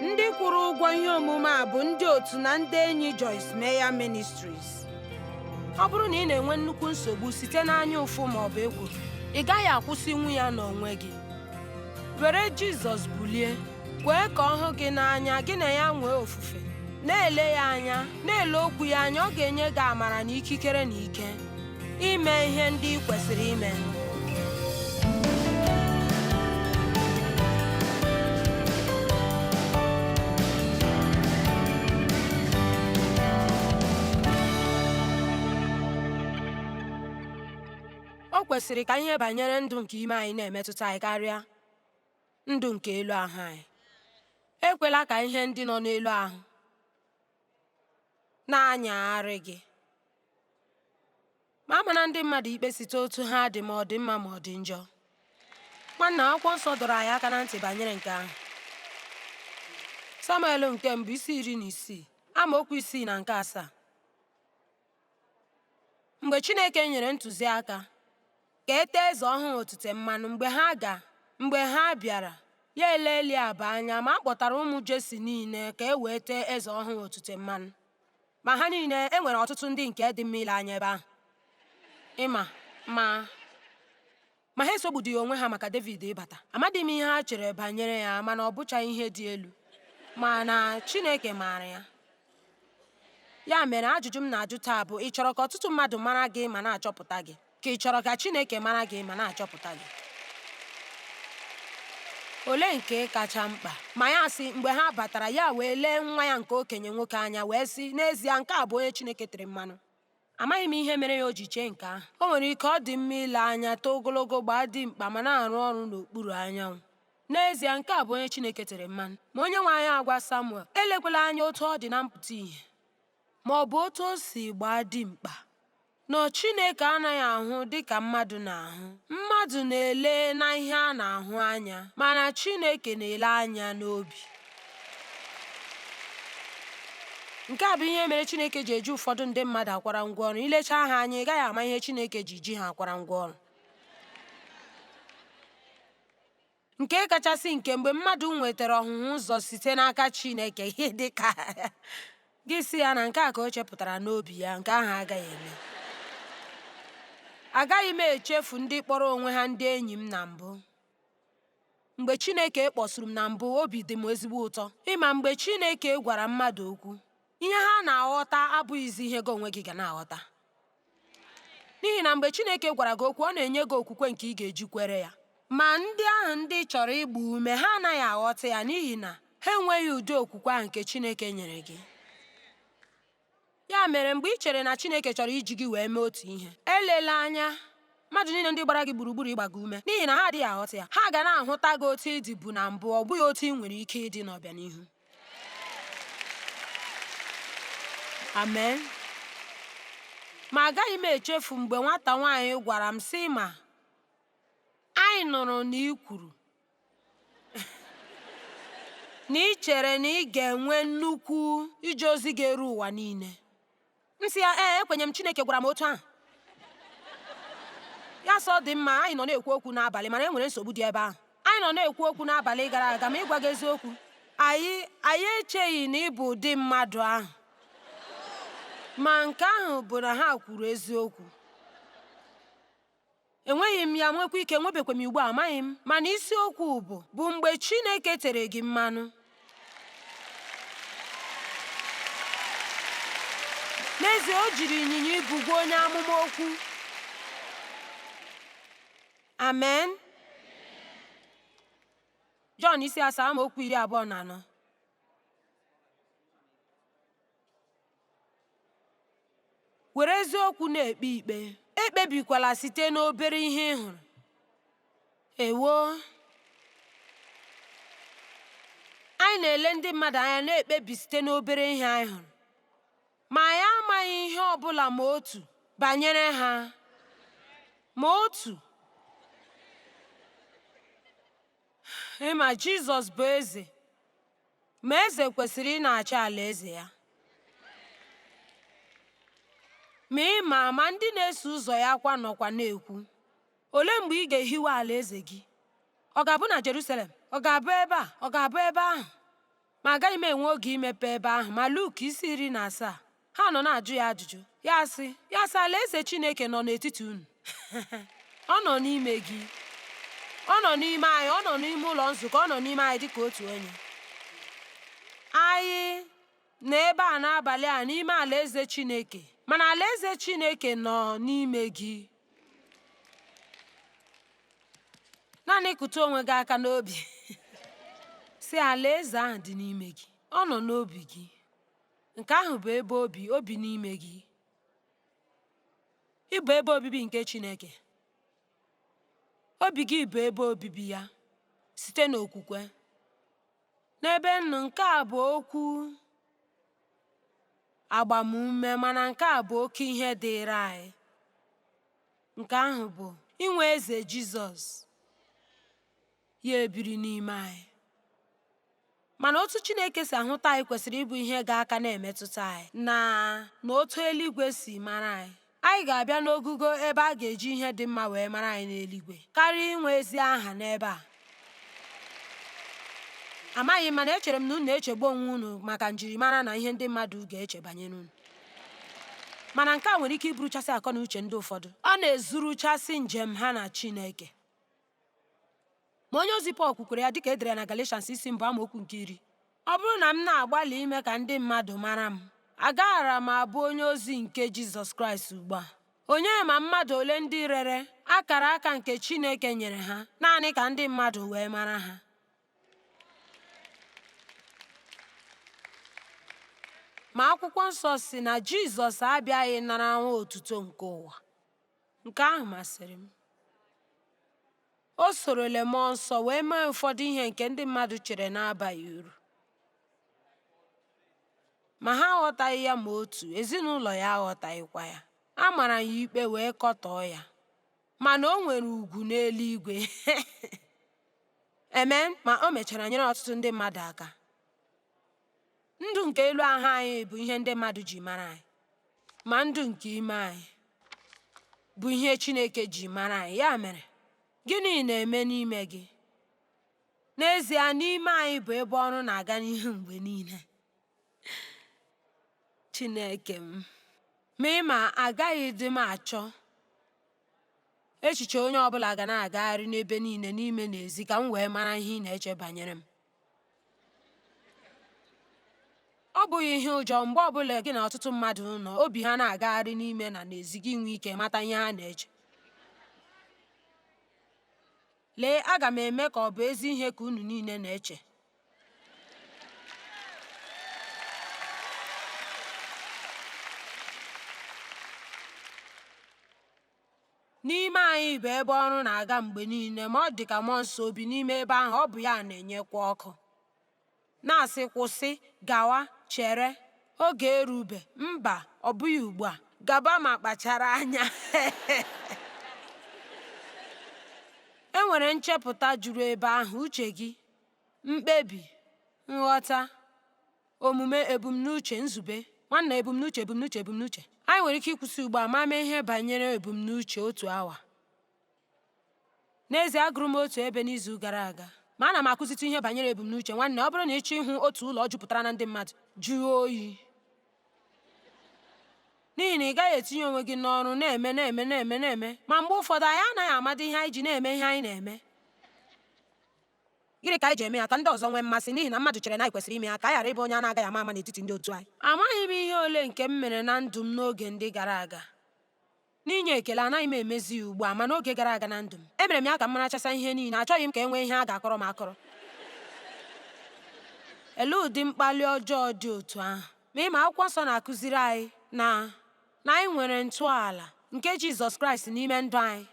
ndị kwụrụ ụgwọ ihe omume a bụ ndị otu na ndị enyi Joyce Meyer Ministries ọ bụrụ na ị na-enwe nnukwu nsogbu site n'anya ụfụ ma ọ bụ ekworo ị gaghị akwụsịnwu ya n'onwe gị were Jizọs bulie kwee ka ọ hụ gị n'anya gị na ya nwee ofufe na-ele ya anya na-ele okwu ya anya ọ ga-enye gị amara na ikikere na ike ime ihe ndị ị kwesịrị ime o kwesịrị ka ihe banyere ndụ nke ime anyị na-emetụta anyị karịa ndụ nke elu ahụ anyị ekwela ka ihe ndị nọ n'elu ahụ na-anyagharị gị ma amana ndị mmadụ ikpe site otu ha dị ma ọ dị mma ma ọ dị njọ nwanna akwụkwọ nsọ dọrọ anyị aka na ntị banyere nke ahụ samuel nke mbụ isi iri na isii amaokwu isii na nke asaa mgbe chineke nyere ntụziaka ka e tee eze ọhụrụ otite mmanụ mgbe ha bịara ya ele eliab anya ma a kpọtara ụmụ jesi niile ka e wee tee eze ọhụrụ otite mmanụ Ma ha niile, e nwere ọtụtụ ndị nke dị mma ile anya ebe ahụ, ị ma, ma ha esogbudịghị onwe ha maka Devid ịbata. Amadịghị m ihe ha chere banyere ya, mana ọ bụchaghị ihe dị elu, mana Chineke maara ya. Ya mere, ajụjụ m na-ajụ taa bụ, ị chọrọ ka ọtụtụ mmadụ mara gị ma na-achọpụta gị? Ka ị chọrọ ka Chineke mara gị ma na-achọpụta gị? Olee nke kacha mkpa? Ma ya sị, mgbe ha batara, ya wee lee nwa ya nke okenye nwoke anya, wee sị, N'ezie, nke a bụ onye Chineke tere mmanụ. Amaghị m ihe mere ya o ji chee nke ahụ. O nwere ike ọ dị mma ile anya, too ogologo, gbaa dimkpa ma na-arụ ọrụ n'okpuru anyanwụ. N'ezie, nke a bụ onye Chineke tere mmanụ. Ma Onyenwe anyị agwa Samuel, elekwala anya otu ọ dị na mpụta ihe, ma ọ bụ otu o si gbaa dimkpa. na Chineke anaghị ahụ dị ka mmadụ na-ahụ. Mmadụ na-ele na ihe a na-ahụ anya, mana Chineke na-ele anya n'obi. Nke a bụ ihe mere Chineke ji eji ụfọdụ ndị mmadụ akwara ngwa ọrụ. Ilecha ha anya, ị gaghị ama ihe Chineke ji ji ha akwara ngwa ọrụ. Nke kachasị nke, mgbe mmadụ nwetara ọhụhụ ụzọ site n'aka Chineke, ihe dị ka gị sị ya na nke a ka o chepụtara n'obi ya, nke ahụ agaghị eme. Agaghị m echefu ndị kpọrọ onwe ha ndị enyi m na mbụ. Mgbe Chineke kpọsuru m na mbụ, obi dị m ezigbo ụtọ. Ị ma, mgbe Chineke gwara mmadụ okwu. ihe ha na-aghọta abụghịzi ihe gị onwe gị ga na-aghọta n'ihi na mgbe Chineke gwara gị okwu ọ na-enye gị okwukwe nke ị ga-eji kwere ya ma ndị ahụ ndị chọrọ ịgba ume ha anaghị aghọta ya n'ihi na ha enweghị ụdị okwukwe ahụ nke Chineke nyere gị ya mere mgbe ị chere na Chineke chọrọ iji gị wee mee otu ihe elela anya mmadụ niile ndị gbara gị gburugburu ịgba gị ume n'ihi na ha adịghị aghọta ya ha ga na-ahụta gị otu ị dịbu na mbụ ọ bụghị otu ị nwere ike ịdị n'ọbịanihu amen ma agaghị m echefu mgbe nwata nwaanyị gwara m sị ma anyị nụrụ na ị kwuru na ị chere na ị ga-enwe nnukwu ije ozi ga-eru ụwa niile m sị ya ee ekwenye m chineke gwara m otu ahụ ya sị ọ dị mma anyị nọ na-ekwu okwu n'abalị mana e nwere nsogbu dị ebe ahụ anyị nọ na-ekwu okwu n'abalị gara aga ma ịgwa gị eziokwu anyị anyị echeghị na ị bụ ụdị mmadụ ahụ ma nke ahụ bụ na ha kwuru eziokwu Enweghị m ya, nwekwa ike nwebekwa m ugbu a, amaghị m. Mana isiokwu bụ bụ mgbe Chineke tere gị mmanụ. N'ezie, o jiri ịnyịnya ibu gwa onye amụma okwu. Amen. Jọn isi asaa amaokwu iri abụọ na anọ. were eziokwu na-ekpe ikpe ekpebikwala site n'obere ihe ị hụrụ ewo anyị na-ele ndị mmadụ anya na-ekpebi site n'obere ihe anyị hụrụ ma anyị amaghị ihe ọ bụla ma otu banyere ha ma otu ị ma jizọs bụ eze Ma eze kwesịrị ịna-achị alaeze ya. Ma ị ma ma ndị na-eso ụzọ ya kwa nọkwa na-ekwu, Olee mgbe ị ga-ehiwe alaeze gị? Ọ ga-abụ na Jerusalem? Ọ ga-abụ ebe a? Ọ ga-abụ ebe ahụ? Ma agaghị m enwe oge imepe ebe ahụ. Ma Luk isi iri na asaa. Ha nọ na-ajụ ya ajụjụ. Ya asị, ya asị, Alaeze Chineke nọ n'etiti unu. Ọ nọ n'ime gị. Ọ nọ n'ime anyị. Ọ nọ n'ime ụlọ nzukọ. Ọ nọ n'ime anyị dị ka otu onye. Anyị nọ ebe a n'abalị a n'ime Alaeze Chineke. Mana Alaeze Chineke nọ n'ime gị. Naanị kụtụ onwe gị aka n'obi, sị Alaeze ahụ dị n'ime gị. Ọ nọ n'obi gị. Nke ahụ bụ ebe o bi, o bi n'ime gị. Ị bụ ebe obibi nke Chineke. Obi gị bụ ebe obibi ya site n'okwukwe. N'ebe nnụ nke a bụ okwu agbamume mana nke a bụ oke ihe dịịrị anyị. Nke ahụ bụ inwe eze Jizọs. Ya ebiri n'ime anyị. Mana otu Chineke si ahụta anyị kwesịrị ịbụ ihe ga-aka na-emetụta anyị na na otu eluigwe si mara anyị. Anyị ga-abịa n'ogugo ebe a ga-eji ihe dị mma wee mara anyị n'eluigwe karịa inwe ezi aha n'ebe a. Amaghị m mana echere m na unu na-echegbu onwe unu maka njirimara na ihe ndị mmadụ ga-eche banyere unu. Mana nke a nwere ike iburuchasị akọ na uche ndị ụfọdụ. Ọ na-ezuruchasị njem ha na Chineke. Ma onye ozi Pọl kwukwara ya dịka e dere ya na Galatians isi mbụ amaokwu nke iri ọ bụrụ na m na-agbalị ime ka ndị mmadụ mara m agaghara m abụ onye ozi nke Jizọs Kraịst ugbu a onye ma mmadụ ole ndị rere akara aka nke Chineke nyere ha naanị ka ndị mmadụ wee mara ha ma akwụkwọ nsọ sị na Jizọs abịaghị nara nwa otuto nke ụwa Nke ahụ masịrị m. O sorole mmụọ nsọ wee mee ụfọdụ ihe nke ndị mmadụ chere na-abaghị uru. Ma ha aghọtaghị ya ma otu, ezinụlọ ya aghọtaghịkwa ya. A mara ya ikpe wee kọtọọ ya. Mana o nwere ugwu n'eluigwe. Amen. Ma o mechara nyere ọtụtụ ndị mmadụ aka. Ndụ nke elu ahụ anyị bụ ihe ndị mmadụ ji mara anyị, ma ndụ nke ime anyị bụ ihe Chineke ji mara anyị. Ya mere, gịnị na-eme n'ime gị? N'ezie, n'ime anyị bụ ebe ọrụ na-aga n'ihu mgbe niile. Chineke m, ma ị ma agaghịdị m achọ echiche onye ọbụla ga na-agagharị n'ebe niile n'ime na ezi ka m wee mara ihe ị na-eche banyere m. Ọ bụghị ihe ụjọ mgbe ọ bụla gị na ọtụtụ mmadụ nọ obi ha na-agagharị n'ime na n'ezi gị nwee ike mata ihe ha na-eche. Lee, aga m eme ka ọ bụ ezi ihe ka unu niile na-eche. N'ime anyị bụ ebe ọrụ na-aga mgbe niile ma ọ dị ka mmụọ nsọ o bi n'ime ebe ahụ ọ bụ ya na-enyekwa ọkụ na-asị kwụsị gawa chere oge erube mba ọ bụghị ugbu a gaba ma kpachara anya e nwere nchepụta juru ebe ahụ uche gị mkpebi nghọta omume ebumnuche nzube nwanna ebumnuche ebumnuche ebumnuche anyị nwere ike ịkwụsị ugbu a ma mee ihe banyere ebumnuche otu awa n'ezie agụrụ m otu ebe n'izu gara aga ma ana m akụzitụ ihe banyere ebumnuche nwanne ọ bụrụ na ị chọọ ịhụ otu ụlọ jupụtara na ndị mmadụ jụọ oyi n'ihi na ị gaghị etinye onwe gị n'ọrụ na-eme na-eme na-eme na-eme ma mgbe ụfọdụ anyị anaghị amadị ihe anyị ji na-eme ihe anyị na-eme Gịnị ka anyị ji eme ya ka ndị ọzọ nwee mmasị? N'ihi na mmadụ chere na anyị kwesịrị ime ya ka anyị ghara ịbụ onye a na-agaghị ama ama n'etiti ndị otu anyị. Amaghị m ihe ole nke m mere na ndụ m n'oge ndị gara aga. N'inye ekele, anaghị m emezi ya ugbu a, ma n'oge gara aga na ndụ m, emere m ya ka m marachasịa ihe niile. Achọghị m ka e nwee ihe a ga-akọrọ m akọrọ. Elee ụdị mkpali ọjọọ dị otu ahụ? Ma ị ma, Akwụkwọ Nsọ na-akụziri anyị na anyị nwere ntọala nke Jizọs Kraịst n'ime ndụ anyị,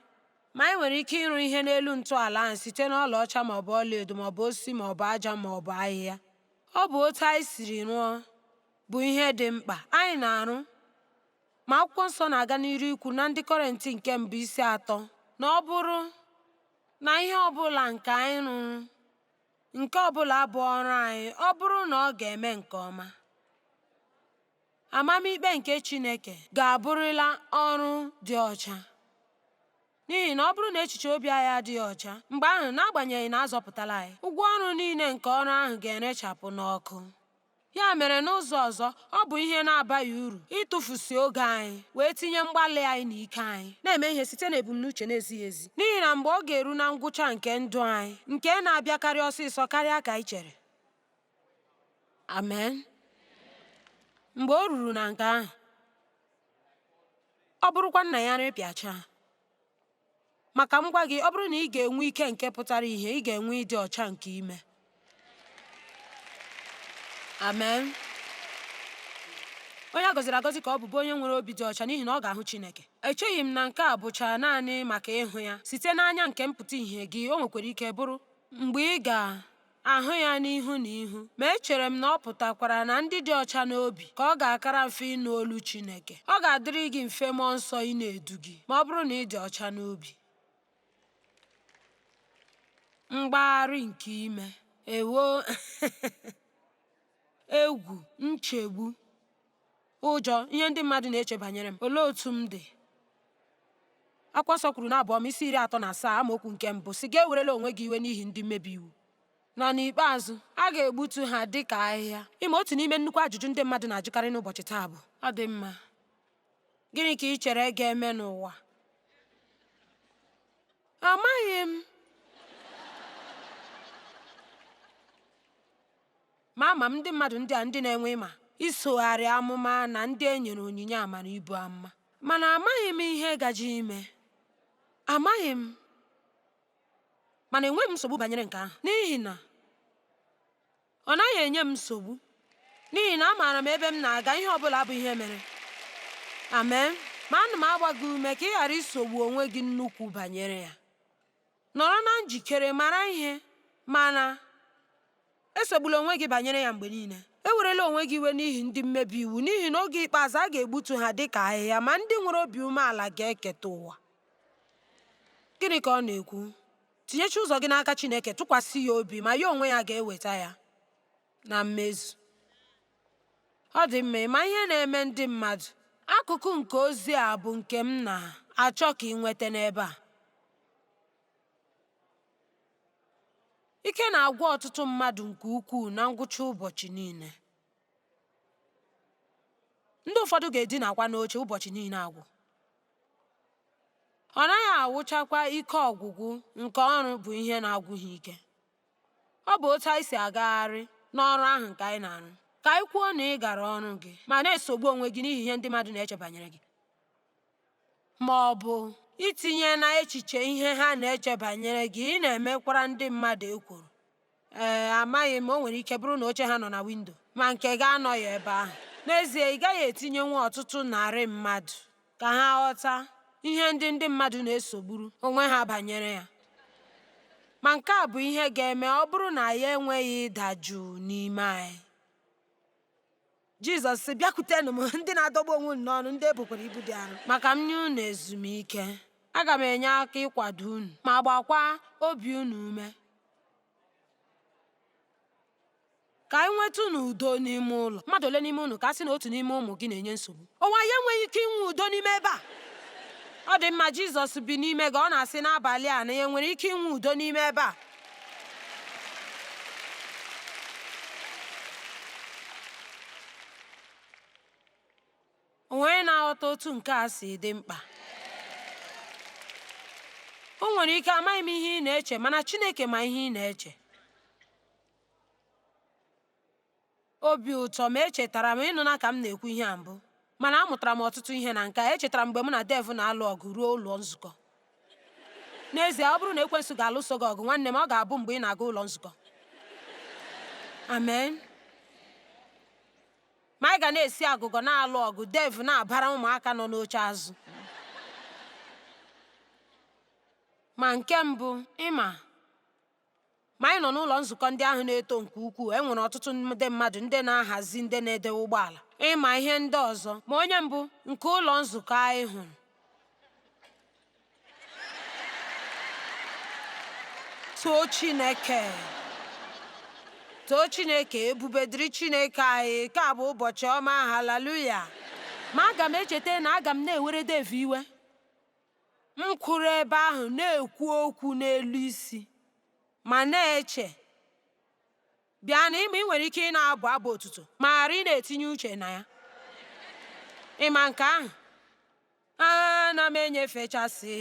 Ma anyị nwere ike ịrụ ihe n'elu ntọala ahụ site n'ọlaọcha ma ọ bụ ọlaedo ma ọ bụ osisi ma ọ bụ aja ma ọ bụ ahịhịa. Ọ bụ otu anyị siri rụọ bụ ihe dị mkpa. Anyị na-arụ ma akwụkwọ nsọ na-aga n'iru ikwu na ndị kọrentị nke mbụ isi atọ na ọ bụrụ na ihe ọbụla nke anyị rụrụ nke ọbụla bụ ọrụ anyị ọ bụrụ na ọ ga-eme nke ọma Amamikpe nke Chineke ga-abụrịla ọrụ dị ọcha. N'ihi na ọ bụrụ na echiche obi anyị adịghị ọcha, mgbe ahụ n'agbanyeghị na a zọpụtala anyị, ụgwọ ọrụ niile nke ọrụ ahụ ga-erechapụ n'ọkụ. Ya mere n'ụzọ ọzọ, ọ bụ ihe na-abaghị uru ịtụfusi oge anyị wee tinye mgbalị anyị na ike anyị na-eme ihe site n'ebumnuche na-ezighị ezi, n'ihi na mgbe ọ ga-eru na ngwụcha nke ndụ anyị, nke na-abịakarị ọsịsọ karịa ka anyị chere, Amen. Mgbe o ruru na nke ahụ, ọ bụrụkwa nna ya rịpịacha maka m gwa gị ọ bụrụ na ị ga-enwe ike nke pụtara ihe ị ga-enwe ịdị ọcha nke ime amen onye a gọziri agọzi ka ọ bụ bụ onye nwere obi dị ọcha n'ihi na ọ ga-ahụ Chineke echeghị m na nke a bụcha naanị maka ịhụ ya site n'anya nke mpụta ihe gị o nwekwara ike bụrụ mgbe ị ga ahụ ya n'ihu na ihu, ma echere m na ọ pụtakwara na ndị dị ọcha n'obi ka ọ ga-akara mfe ịnụ olu Chineke. Ọ ga-adịrị gị mfe mmụọ nsọ ịna-edu gị ma ọ bụrụ na ị dị ọcha n'obi. Mgbagharị nke ime ewo egwu nchegbu Ụjọ, ihe ndị mmadụ na-eche banyere m, olee otu m dị? Akwụkwọ nsọ kwuru n'Abụ Ọma isi iri atọ na asaa amaokwu nke mbụ sị gị ewerela onwe gị iwe n'ihi ndị mmebi iwu na n'ikpeazụ a ga-egbutu ha dị ka ahịhịa. Ị ma otu n'ime nnukwu ajụjụ ndị mmadụ na-ajụkarị n'ụbọchị taa bụ ọ dị mma gịnị ka ị chere ga-eme n'ụwa? Amaghị m. Ma ama m ndị mmadụ ndị a ndị na-enwe ịma isogharị amụma na ndị e nyere onyinye amara ibu amụma. Mana amaghị m ihe gaje ime. Amaghị m. Mana enweghị m nsogbu banyere nke ahụ n'ihi na ọ naghị enye m nsogbu n'ihi na amaara m ebe m na-aga ihe ọ bụla bụ ihe mere. Amen. Ma ana m agba gị ume ka ị ghara isogbu onwe gị nnukwu banyere ya. Nọrọ na njikere mara ihe, mana, esogbula onwe gị banyere ya mgbe niile. Ewerela onwe gị iwe n'ihi ndị mmebi iwu, n'ihi na oge ikpeazụ a ga-egbutu ha dị ka ahịhịa, ma ndị nwere obi umeala ga-eketa ụwa. Gịnị ka ọ na-ekwu? Tinyecha ụzọ gị n'aka Chineke, tụkwasị ya obi, ma ya onwe ya ga-eweta ya na mmezu. Ọ dị mma ịma ihe na-eme ndị mmadụ. Akụkụ nke ozi a bụ nke m na-achọ ka ị nweta n'ebe a. Ike na-agwụ ọtụtụ mmadụ nke ukwuu na ngwụcha ụbọchị niile. Ndị ụfọdụ ga-edinakwa n'oche ụbọchị niile agwụ. Ọ naghị awụchakwa ike ọgwụgwụ nke ọrụ bụ ihe na-agwụ ha ike. Ọ bụ otu anyị si agagharị n'ọrụ ahụ nke anyị na-arụ. Ka anyị kwuo na ị gara ọrụ gị ma na-esogbu onwe gị n'ihi ihe ndị mmadụ na-eche banyere gị. Ma ọ bụ itinye na echiche ihe ha na-eche banyere gị, ị na-emekwara ndị mmadụ ekworo. Ee, amaghị m, o nwere ike bụrụ na oche ha nọ na windo, ma nke gị anọghị ebe ahụ. N'ezie, ị gaghị etinyenwu ọtụtụ narị mmadụ ka ha ghọta ihe ndị ndị mmadụ na-esogburu onwe ha banyere ya. Ma nke a bụ ihe ga-eme ọ bụrụ na anyị enweghị ịda jụụ n'ime anyị. Jizọs sị, Bịakwutenụ m ndị na-adọgbu onwe unu n'ọrụ, ndị e bukwara ibu dị arọ, ma ka m nye unu ezumike. Aga m enye aka ịkwado unu ma gbakwa obi unu ume. ka anyị nwetanụ udo n'ime ụlọ mmadụ ole n'ime unu ka a sị na otu n'ime ụmụ gị na-enye nsogbu ọ wụ anyị enweghị ike inwe udo n'ime ebe a ọ dị mma jizọs bi n'ime gị ọ na-asị n'abalị a anyị nwere ike inwe udo n'ime ebe a O nwere onye na-aghọta otu nke a si dị mkpa. O nwere ike amaghị m ihe ị na-eche, mana Chineke ma ihe ị na-eche. Obi ụtọ ma echetara m ị nụna ka m na-ekwu ihe a mbụ, mana amụtara m ọtụtụ ihe na nke a. Echetara m mgbe mụ na Dave na-alụ ọgụ ruo ụlọ nzukọ. N'ezie, ọ bụrụ na ekwensu ga-alụso gị ọgụ, nwanne m, ọ ga-abụ mgbe ị na-aga ụlọ nzukọ. Amen. Ma anyị ga na-esi agụgọ na-alụ ọgụ, Dev na-abara ụmụaka nọ n'oche azụ. Ma nke mbụ, ịma, ma anyị nọ n'ụlọ nzukọ ndị ahụ na-eto nke ukwuu, e nwere ọtụtụ ndị mmadụ ndị na-ahazi ndị na-edewe ụgbọala, ịma ihe ndị ọzọ. Ma onye mbụ nke ụlọ nzukọ anyị hụrụ too chineke too chineke ebube dịrị chineke anyị nke a bụ ụbọchị ọma haleluya ma aga m echeta na aga m na-ewere dev iwe m kwụrụ ebe ahụ na-ekwu okwu n'elu isi ma na-eche Bịa nụ ịma ị nwere ike ịna-abụ abụ otuto ma ghara ịna-etinye uche na ya. Ị ma nke ahụ? Ana m enyefechasị,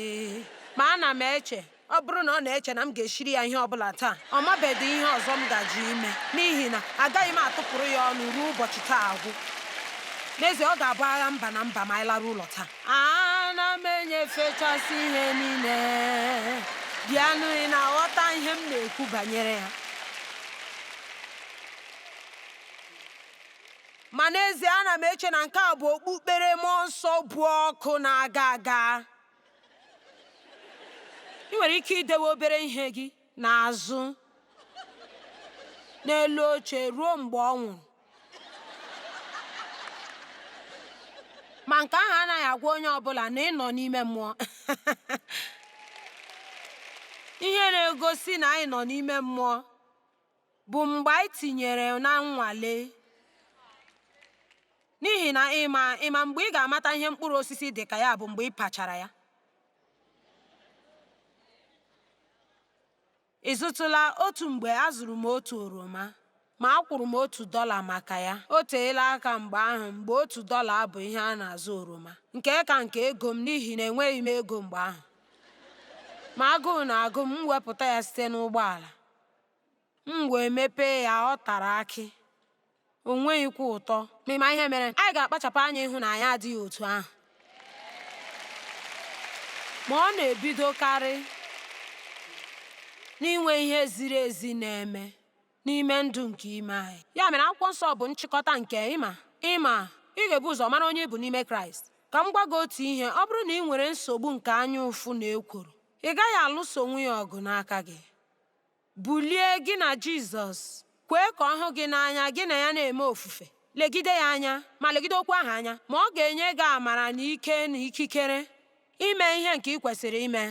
ma ana m eche, ọ bụrụ na ọ na-eche na m ga-eshiri ya ihe ọ bụla taa, ọ mabedị ihe ọzọ m gaje ime, n'ihi na agaghị m atụpụrụ ya ọnụ ruo ụbọchị taa agwụ. N'ezie, ọ ga-abụ agha mba na mba ma anyị laruo ụlọ taa. ana m enyefechasị ihe niile bịanụ ị na-aghọta ihe m na-ekwu banyere ya ma n'ezie ana m eche na nke a bụ okpukpere mmụọ nsọ bụ ọkụ na-aga aga ị nwere ike idewe obere ihe gị n'azụ n'elu oche ruo mgbe ọ nwụrụ. Ma nke ahụ anaghị agwa onye ọ bụla na ị nọ n'ime mmụọ. Ihe na-egosi na anyị nọ n'ime mmụọ bụ mgbe anyị tinyere na nnwale. N'ihi na ịma mgbe ị ga-amata ihe mkpụrụ osisi dị ka ya bụ mgbe ị pachara ya. ị zụtụla otu mgbe azụrụ m otu oroma ma akwụrụ m otu dọla maka ya o teela aka mgbe ahụ mgbe otu dọla bụ ihe a na-azụ oroma nke ka nke ego m n'ihi na enweghị m ego mgbe ahụ ma agụụ na-agụ m m wepụta ya site n'ụgbọala m wee mepee ya ọ tara akị O nweghịkwa ụtọ. Ma ị ma ihe mere? Anyị ga-akpachapụ anya ịhụ na anyị adịghị otu ahụ. Ma ọ na-ebidokarị n'inwe ihe ziri ezi na-eme n'ime ndụ nke ime anyị. Ya mere, Akwụkwọ Nsọ bụ nchịkọta nke, ị ma, ị ma, ị ga-ebu ụzọ mara onye ị bụ n'ime Kraịst. Ka m gwa gị otu ihe, ọ bụrụ na ị nwere nsogbu nke anya ụfụ na ekworo, ị gaghị alụsonwu ya ọgụ n'aka gị. Bulie gị na Jizọs. Kwee ka ọ hụ gị n'anya, gị na ya na-eme ofufe. Legide ya anya, ma legide okwu ahụ anya, ma ọ ga-enye gị amara na ike na ikikere ime ihe nke ị kwesịrị ime.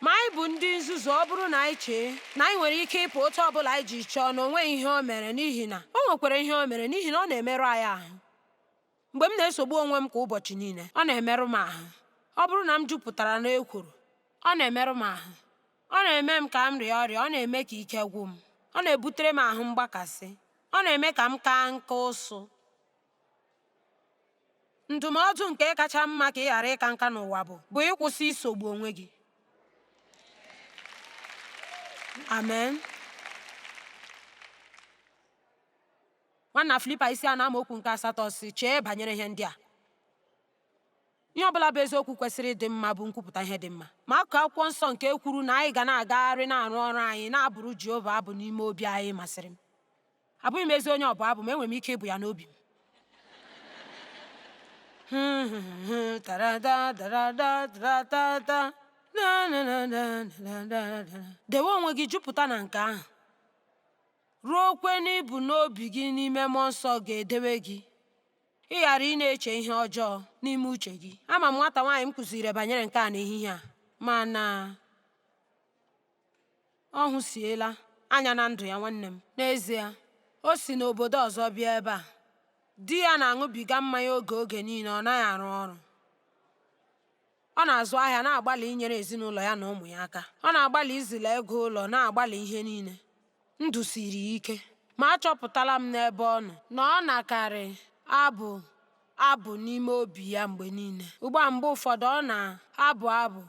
Ma anyị bụ ndị nzuzu ọ bụrụ na anyị chee na anyị nwere ike ịpụ otu ọ bụla anyị ji chọọ na o nweghị ihe o mere n'ihi na o nwekwara ihe o mere n'ihi na ọ na-emerụ anyị ahụ. Mgbe m na-esogbu onwe m kwa ụbọchị niile, ọ na-emerụ m ahụ. Ọ bụrụ na m jupụtara n'ekworo, ọ na-emerụ m ahụ. Ọ na-eme m ka m rịa ọrịa, ọ na-eme ka ike gwụ m, ọ na-ebutere m ahụ mgbakasị, ọ na-eme ka m kaa nka ụsụ. Ndụmọdụ nke kacha mma ka ị ghara ịka nka n'ụwa bụ bụ ịkwụsị isogbu onwe gị. Amen. Nwanna Filipaị isi anọ amaokwu nke asatọ sị chee banyere ihe ndị a ihe ọ bụla bụ eziokwu kwesịrị ịdị mma bụ nkwupụta ihe dị mma ma akụkụ akwụkwọ nsọ nke kwuru na anyị ga na-agagharị na-arụ ọrụ anyị na-abụrụ Jehova abụ n'ime obi anyị masịrị m abụghị m ezi onye ọbụ abụ ma enwere m ike ịbụ ya n'obi m dewe onwe gị jupụta na nke ahụ ruo ukwe n'ibu n'obi gị n'ime mmụọ nsọ ga-edewe gị ịghara ịna-eche ihe ọjọọ n'ime uche gị ama m nwata nwaanyị m kụziri banyere nke a n'ehihie a mana ọ hụsiela anya na ndụ ya nwanne m n'ezie o si n'obodo ọzọ bịa ebe a di ya na-aṅụbiga mmanya oke oge niile ọ naghị arụ ọrụ Ọ na-azụ ahịa, na-agbalị inyere ezinụlọ ya na ụmụ ya aka. Ọ na-agbalị izila ego ụlọ, na-agbalị ihe niile. Ndụ siri ya ike. Ma achọpụtala m n'ebe ọ nọ na ọ nakarị abụ abụ n'ime obi ya mgbe niile. Ugbu a mgbe ụfọdụ ọ na-abụ abụ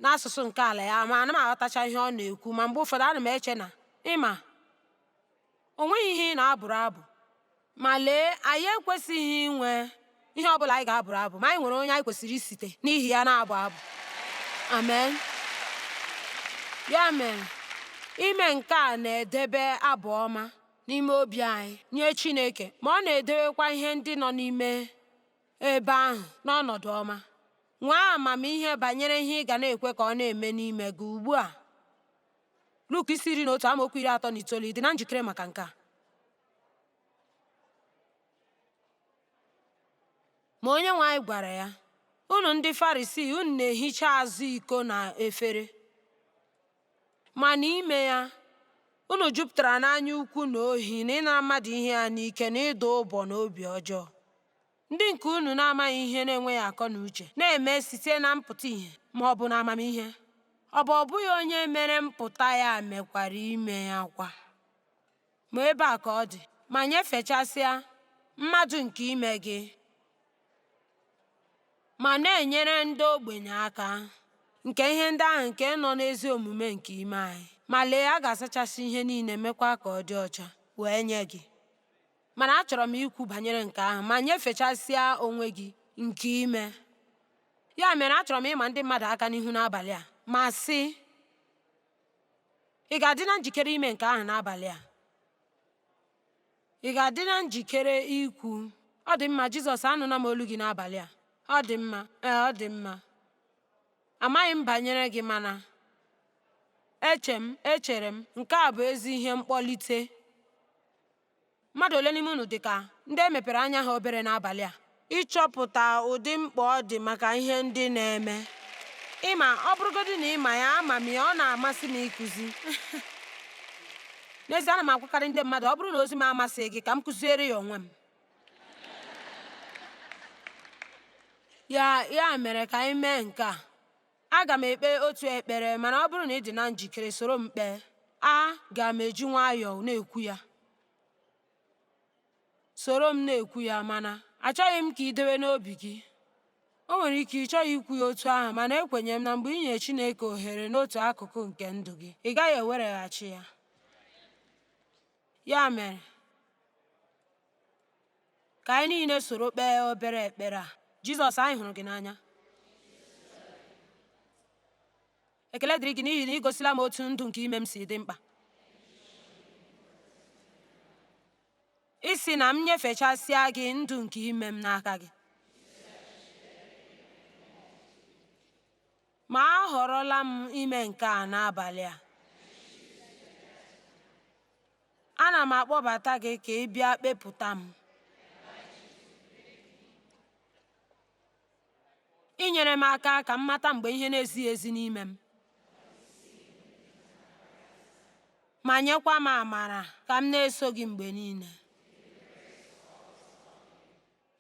n'asụsụ nke ala ya ma ana m aghọtacha ihe ọ na-ekwu ma mgbe ụfọdụ ana m eche na ị ma O nweghị ihe ị na-abụrụ abụ. Ma lee, anyị ekwesịghị inwe ihe ọ bụla anyị ga-abụrụ abụ, ma anyị nwere onye anyị kwesịrị isite n'ihi ya na-abụ abụ. Amen. Ya mere, ime nke a na-edebe abụ ọma n'ime obi anyị nye Chineke, ma ọ na-edewekwa ihe ndị nọ n'ime ebe ahụ n'ọnọdụ ọma. Nwee amamihe banyere ihe ị ga na-ekwe ka ọ na-eme n'ime gị ugbu a. Luk isi iri na otu amaokwu iri atọ na itoolu ị dị na njikere maka nke a. Ma onye nwe anyị gwara ya, Unu ndị Farisii, unu na-ehicha azụ iko na efere, ma n'ime ya unu jupụtara n'anya ukwu na ohi na ịnara mmadụ ihe ya n'ike na ịdụ ụbọ na obi ọjọọ. Ndị nke unu na-amaghị ihe na-enweghị akọ na uche na-eme site na mpụta ihe ma ọ bụ na amamihe, ọ bụ ọ bụghị onye mere mpụta ya mekwara ime ya kwa? Ma ebe a ka ọ dị, ma nyefechasịa mmadụ nke ime gị, ma na-enyere ndị ogbenye aka nke ihe ndị ahụ nke nọ n'ezi omume nke ime anyị, ma lee, a ga-asachasị ihe niile, mekwa ka ọ dị ọcha, wee nye gị. Mana achọrọ m ikwu banyere nke ahụ ma nyefechasịa onwe gị nke ime. Ya mere achọrọ m ịma ndị mmadụ aka n'ihu n'abalị a ma sị, ị ga-adị na njikere ime nke ahụ n'abalị a? Ị ga-adị na njikere ikwu, ọ dị mma Jizọs, anụla m olu gị n'abalị a. Ọ dị mma, ee, ọ dị mma. Amaghị m banyere gị mana eche m, echere m, nke a bụ ezi ihe mkpọlite. Mmadụ ole n'ime unu dị ka ndị e mepere anya ha obere n'abalị a ịchọpụta ụdị mkpa ọ dị maka ihe ndị na-eme? Ị ma, ọ bụrụgodị na ị ma ya, ama m ya, ọ na-amasị m ịkụzi. N'ezie, ana m agwakarị ndị mmadụ, ọ bụrụ na ozi m amasịghị gị, ka m kụziere ya onwe m. Ya mere ka anyị mee nke a. Aga m ekpe otu ekpere, mana ọ bụrụ na ị dị na njikere, soro m kpee. Aga m eji nwayọọ na-ekwu ya. Soro m na-ekwu ya, mana achọghị m ka i dewe n'obi gị. O nwere ike ị chọghị ikwu ya otu ahụ, mana ekwenye m na mgbe i nyere Chineke ohere n'otu akụkụ nke ndụ gị, ị gaghị ewereghachi ya. Ya mere, Ka anyị niile soro kpee obere ekpere a. Jizọs, anyị hụrụ gị n'anya. Ekele dịrị gị n'ihi na ị gosila m otu ndụ nke ime m si dị mkpa. Ị sị na m nyefechasịa gị ndụ nke ime m n'aka gị. Ma ahọrọla m ime nke a n'abalị a. Ana m akpọbata gị ka ị bịa kpepụta m. Inyere m aka ka m mata mgbe ihe na-ezighị ezi n'ime m. Ma nyekwa m amara ka m na-eso gị mgbe niile.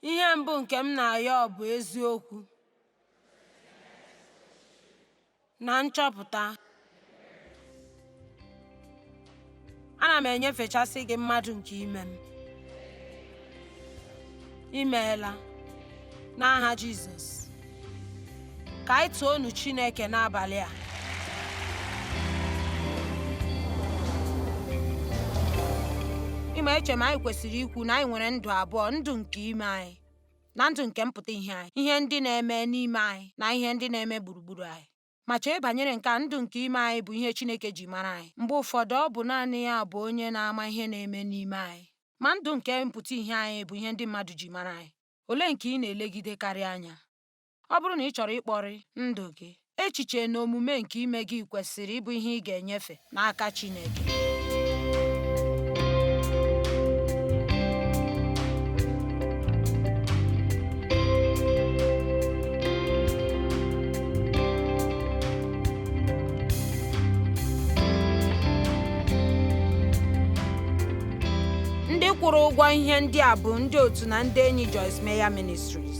Ihe mbụ nke m na-ayọ bụ eziokwu na nchọpụta. Ana m enyefechasị gị mmadụ nke ime m. I meela n'aha Jizọs. ka anyị toonu Chineke n'abalị a ị ma eche m anyị kwesịrị ikwu na anyị nwere ndụ abụọ ndụ nke ime anyị na ndụ nke mpụta ihe anyị ihe ndị na-eme n'ime anyị na ihe ndị na-eme gburugburu anyị ma chee banyere nke a ndụ nke ime anyị bụ ihe Chineke ji mara anyị mgbe ụfọdụ ọ bụ naanị ya bụ onye na-ama ihe na-eme n'ime anyị ma ndụ nke mpụta ihe anyị bụ ihe ndị mmadụ ji mara anyị olee nke ị na-elegidekarị anya? Ọ bụrụ na ị chọrọ ịkpọrị ndụ gị, echiche na omume nke ime gị kwesịrị ịbụ ihe ị ga-enyefe n'aka Chineke. ndị kwụrụ ụgwọ ihe ndị a bụ ndị otu na ndị enyi Joyce Meyer Ministries.